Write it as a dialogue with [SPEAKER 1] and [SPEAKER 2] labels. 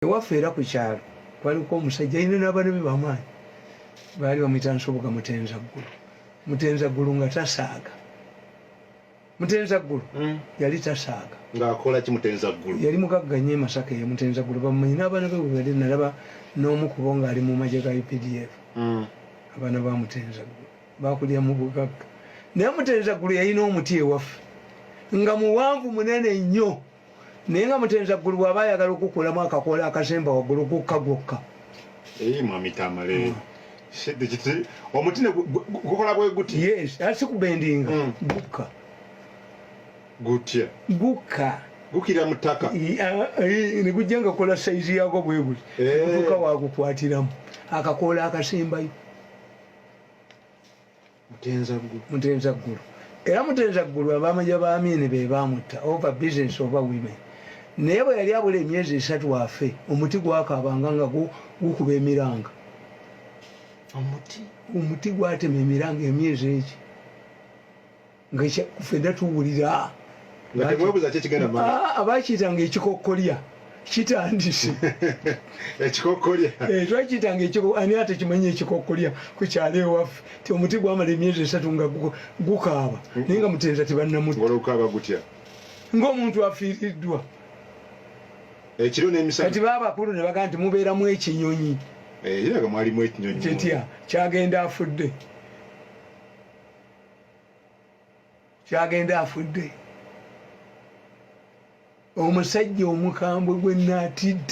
[SPEAKER 1] ewaffe era ku kyalo kwaliko omusajja alina n'abaana be bamaanyi baali bamuyita nsoboga mutenza ggulu mutenza ggulu nga tasaaga mutenza ggulu hmm. yali tasaaga ngaakola ki mutenza
[SPEAKER 2] ggulu yali mugagga nnyo emasaka
[SPEAKER 1] eyo mutenza ggulu bamumanyi n'abaana be bwebali nalaba n'omu kubo ng'ali mu magye ga updf hmm. abaana ba mutenza ggulu bakulya mu bugagga naye mutenza ggulu yalina omuti ewaffe nga muwanvu munene nnyo naye nga mutenza ggulu bw'aba ayagala okukulamu akakoola akasemba waggulu gukka gwokka eyi
[SPEAKER 2] mwami tamale hmm. omuti gukola bwe guti yes asi kubendinga
[SPEAKER 1] hmm. gukka
[SPEAKER 2] gutya gukka
[SPEAKER 1] gukira mu
[SPEAKER 2] ttaka ne
[SPEAKER 1] gujja nga kola sayizi yaako bwe guti eh. gutuka wagukwatiramu akakoola akasembayo
[SPEAKER 2] mutenza ggulu
[SPEAKER 1] era mutenza ggulu abamaja ba amini be baamutta over business oba women naye bwe yali abula emyezi esatu afe omuti gwakaabanga nga gukuba emiranga omuti gwatema emiranga emyezi eki nga fedda tuwulira abakiitanga ekikokkolya kitandise
[SPEAKER 2] ekikokolya eh, twakitanga
[SPEAKER 1] ani ate kimanyi ekikokolya ku kyalo ewaffe ti omuti gwamala emyezi esatu nga gukaaba naye nga mutenza tibannamutkaaba gutya ngaomuntu afiiriddwa ekiro nemisaati baabakulu ne bagaa nti mubeeramu ekinyonyi eh, kiraga mwalimu
[SPEAKER 2] ekinyonyi kitya kyagenda
[SPEAKER 1] afudde kyagenda afudde omusajja omukambwe gwe naatidde